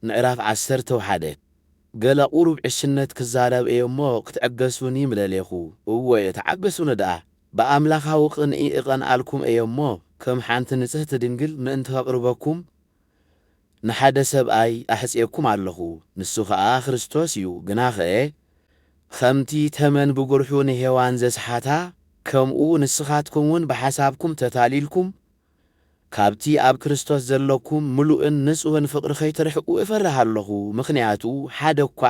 ምዕራፍ ዓሰርተ ወሓደ ገለ ቁሩብ ዕሽነት ክዛረብ እየ እሞ ክትዕገሱኒ ምደሌኹ። እወ ተዓገሱኒ ደኣ። ብኣምላኻዊ ቅንኢ እቐንኣልኩም እየ እሞ ከም ሓንቲ ንጽህቲ ድንግል ምእንቲ ከቕርበኩም ንሓደ ሰብኣይ ኣሕጽየኩም ኣለኹ፣ ንሱ ኸኣ ክርስቶስ እዩ። ግናኸ ኸምቲ ተመን ብጕርሑ ንሄዋን ዘስሓታ፣ ከምኡ ንስኻትኩምውን ብሓሳብኩም ተታሊልኩም ካብቲ ኣብ ክርስቶስ ዘሎኩም ምሉእን ንጹህን ፍቕሪ ኸይትርሕቁ እፈርህ ኣሎኹ፣ ምኽንያቱ ሓደ እኳ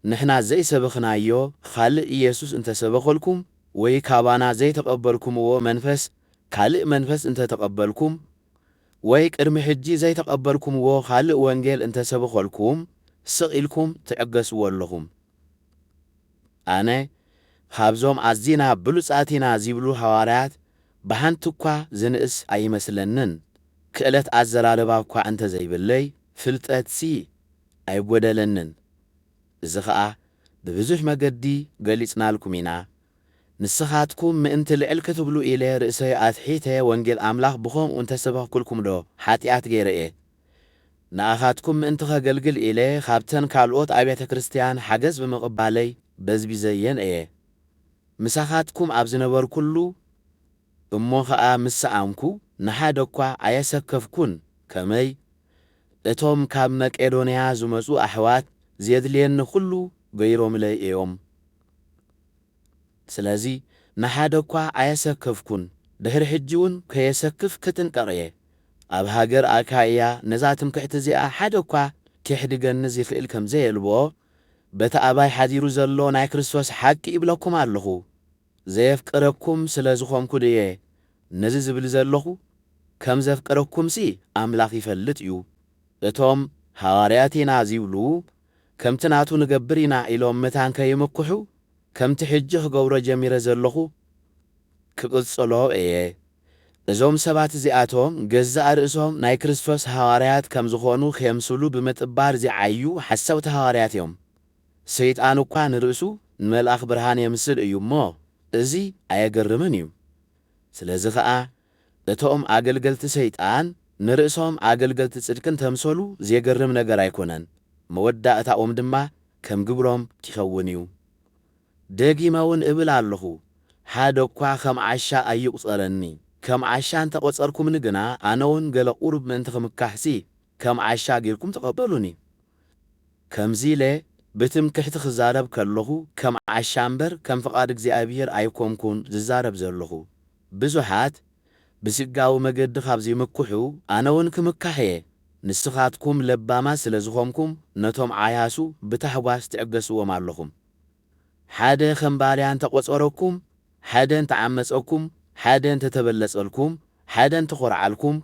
ንሕና ዘይሰበኽናዮ ኻልእ ኢየሱስ እንተ ሰበኸልኩም፣ ወይ ካባና ዘይተቐበልኩምዎ መንፈስ ካልእ መንፈስ እንተ ተቐበልኩም፣ ወይ ቅድሚ ሕጂ ዘይተቐበልኩምዎ ኻልእ ወንጌል እንተ ሰበኸልኩም፣ ስቕ ኢልኩም ትዕገስዎ ኣሎኹም። ኣነ ኻብዞም ኣዚና ብሉጻት ኢና ዚብሉ ሃዋርያት ብሓንቲ እኳ ዝንእስ ኣይመስለንን፣ ክእለት ኣዘራርባ እኳ እንተ ዘይብለይ፣ ፍልጠትሲ ኣይጐደለንን። እዚ ኸኣ ብብዙሕ መገዲ ገሊጽናልኩም ኢና። ንስኻትኩም ምእንቲ ልዕል ክትብሉ ኢለ ርእሰይ ኣትሒተ ወንጌል ኣምላኽ ብኸምኡ እንተ ሰበኽኩልኩምዶ ሓጢኣት ገይረ እየ? ንኣኻትኩም ምእንቲ ኸገልግል ኢለ ኻብተን ካልኦት ኣብያተ ክርስትያን ሓገዝ ብምቕባለይ በዝቢዘየን እየ። ምሳኻትኩም ኣብ ዝነበርኩሉ እሞ ኸኣ ምስ ሰኣንኩ ንሓደ እኳ ኣየሰከፍኩን፣ ከመይ እቶም ካብ መቄዶንያ ዝመጹ ኣሕዋት ዜድልየኒ ዅሉ ገይሮምለይ እዮም። ስለዚ ንሓደ እኳ ኣየሰከፍኩን፣ ድሕሪ ሕጂውን ከየሰክፍ ክጥንቀቕ እየ። ኣብ ሃገር ኣካይያ ነዛ ትምክሕቲ እዚኣ ሓደ እኳ ኬሕድገኒ ዚኽእል ከም ዘየልቦ በቲ ኣባይ ሓዲሩ ዘሎ ናይ ክርስቶስ ሓቂ እብለኩም ኣሎኹ፣ ዘየፍቅረኩም ስለ ዝኾንኩ ድየ ነዚ ዝብል ዘሎኹ? ከም ዘፍቅረኩምሲ ኣምላኽ ይፈልጥ እዩ። እቶም ሃዋርያት ኢና ዚብሉ፣ ከምቲ ናቱ ንገብር ኢና ኢሎም መታን ከይምክሑ፣ ከምቲ ሕጂ ክገብሮ ጀሚረ ዘሎኹ፣ ክቕጽሎ እየ። እዞም ሰባት እዚኣቶም ገዛእ ርእሶም ናይ ክርስቶስ ሃዋርያት ከም ዝኾኑ ኼምስሉ ብምጥባር ዚዓዩ ሓሰውቲ ሃዋርያት እዮም። ሰይጣን እኳ ንርእሱ ንመልኣኽ ብርሃን የምስል እዩ እሞ፣ እዚ ኣየገርምን እዩ። ስለዚ ኸኣ፣ እቶም ኣገልገልቲ ሰይጣን ንርእሶም ኣገልገልቲ ጽድቂ እንተምሰሉ ዜገርም ነገር ኣይኰነን፣ መወዳእታኦም ድማ ከም ግብሮም ኪኸውን እዩ። ደጊመ እውን እብል ኣለኹ፣ ሓደ እኳ ኸም ዓሻ ኣይቍጸረኒ። ከም ዓሻ እንተ ቘጸርኩምኒ ግና፣ ኣነውን ገለ ቝሩብ ምእንቲ ኽምካሕሲ፣ ከም ዓሻ ጌርኩም ተቐበሉኒ። ከምዚ ኢለ ብትምክሕቲ ኽዛረብ ከለኹ፣ ከም ዓሻ እምበር፣ ከም ፍቓድ እግዚኣብሄር ኣይኰንኩን ዝዛረብ ዘለኹ። ብዙሓት ብስጋዊ መገዲ ኻብ ዚምክሑ፣ ኣነውን ክምካሕ እየ። ንስኻትኩም ለባማት ስለ ዝዀንኩም፣ ነቶም ዓያሱ ብታሕጓስ ትዕገስዎም ኣለኹም። ሓደ ኸም ባርያ እንተ ቈጸረኩም፣ ሓደ እንተ ዓመጸኩም፣ ሓደ እንተ ተበለጸልኩም፣ ሓደ እንተ ዀርዓልኩም፣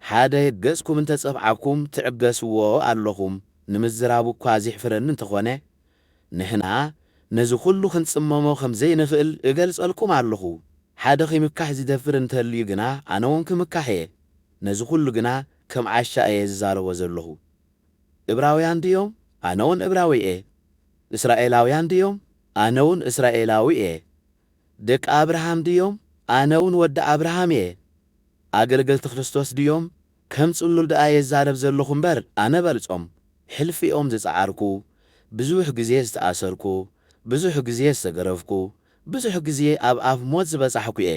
ሓደ ገጽኩም እንተ ጸፍዓኩም፣ ትዕገስዎ ኣሎኹም ንምዝራቡ እኳ ዜሕፍረኒ እንተ ዀነ፣ ንሕና ነዚ ዅሉ ኽንጽመሞ ኸም ዘይንኽእል እገልጸልኩም ኣሎኹ። ሓደ ኺምካሕ ዚደፍር እንተ ኣልዩ ግና፣ ኣነውን ክምካሕ እየ፣ ነዚ ዅሉ ግና ከም ዓሻ እየ ዝዛረቦ ዘሎኹ። እብራውያን ድዮም? ኣነውን እብራዊ እየ። እስራኤላውያን ድዮም? ኣነውን እስራኤላዊ እየ። ደቂ ኣብርሃም ድዮም? ኣነውን ወዲ ኣብርሃም እየ። ኣገልገልቲ ክርስቶስ ድዮም? ከም ጽሉል ደኣ እየ ዝዛረብ ዘለኹ እምበር ኣነ በልጾም። ሕልፊኦም ዝጸዓርኩ፣ ብዙሕ ግዜ ዝተኣሰርኩ፣ ብዙሕ ግዜ ዝተገረፍኩ፣ ብዙሕ ግዜ ኣብ ኣፍ ሞት ዝበጻሕኩ እየ።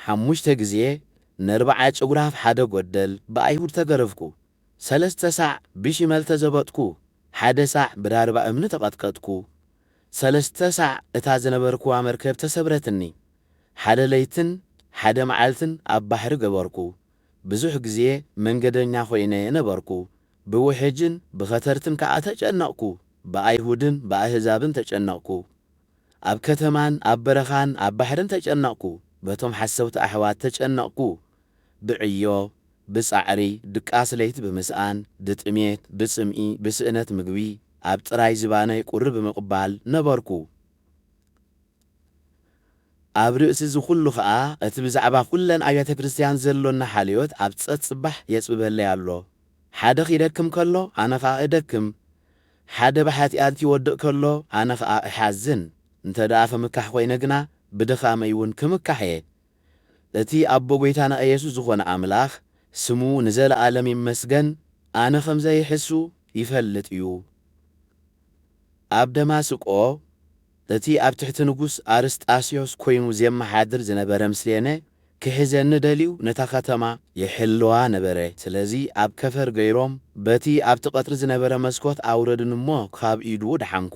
ሓሙሽተ ግዜ ነርብዓ ጭጉራፍ ሓደ ጎደል ብኣይሁድ ተገረፍኩ፣ ሰለስተ ሳዕ ብሺመል ተዘበጥኩ፣ ሓደ ሳዕ ብዳርባ እምኒ ተቐጥቀጥኩ፣ ሰለስተ ሳዕ እታ ዝነበርክዋ መርከብ ተሰብረትኒ፣ ሓደ ለይትን ሓደ መዓልትን ኣብ ባሕሪ ገበርኩ፣ ብዙሕ ግዜ መንገደኛ ኮይነ ነበርኩ፣ ብውሕጅን ብኸተርትን ከኣ ተጨነቕኩ፣ ብኣይሁድን ብኣህዛብን ተጨነቕኩ፣ ኣብ ከተማን ኣብ በረኻን ኣብ ባሕርን ተጨነቕኩ፣ በቶም ሓሰውቲ ኣሕዋት ተጨነቕኩ፣ ብዕዮ፣ ብጻዕሪ፣ ድቃስ ለይቲ ብምስኣን፣ ብጥሜት፣ ብጽምኢ፣ ብስእነት ምግቢ፣ ኣብ ጥራይ ዝባነይ ቁሪ ብምቕባል ነበርኩ። ኣብ ርእሲ እዚ ኹሉ ኸኣ እቲ ብዛዕባ ኩለን ኣብያተ ክርስትያን ዘሎኒ ሓልዮት ኣብ ጸጽባሕ የጽብበለይ ኣሎ። ሓደ ኺደክም ከሎ ኣነ ኸኣ እደክም። ሓደ ብሓጥያት ይወድቅ ከሎ ኣነ ከኣ እሓዝን እንተ ደኣ ክምካሕ ኮይነ ግና ብድኻመይ ውን ክምካሕ እየ እቲ ኣቦ ጎይታና ኢየሱስ ዝኾነ ኣምላኽ ስሙ ንዘለኣለም ይመስገን ኣነ ከም ዘይሕሱ ይፈልጥ እዩ ኣብ ደማስቆ እቲ ኣብ ትሕቲ ንጉስ ኣርስጣስዮስ ኰይኑ ዜመሓድር ዝነበረ ምስሌነ ኪሕዘኒ ደልዩ ነታ ኸተማ ይሕልዋ ነበረ። ስለዚ፣ ኣብ ከፈር ገይሮም በቲ ኣብቲ ቐጽሪ ዝነበረ መስኰት ኣውረዱኒ እሞ ኻብ ኢዱ ደሓንኩ።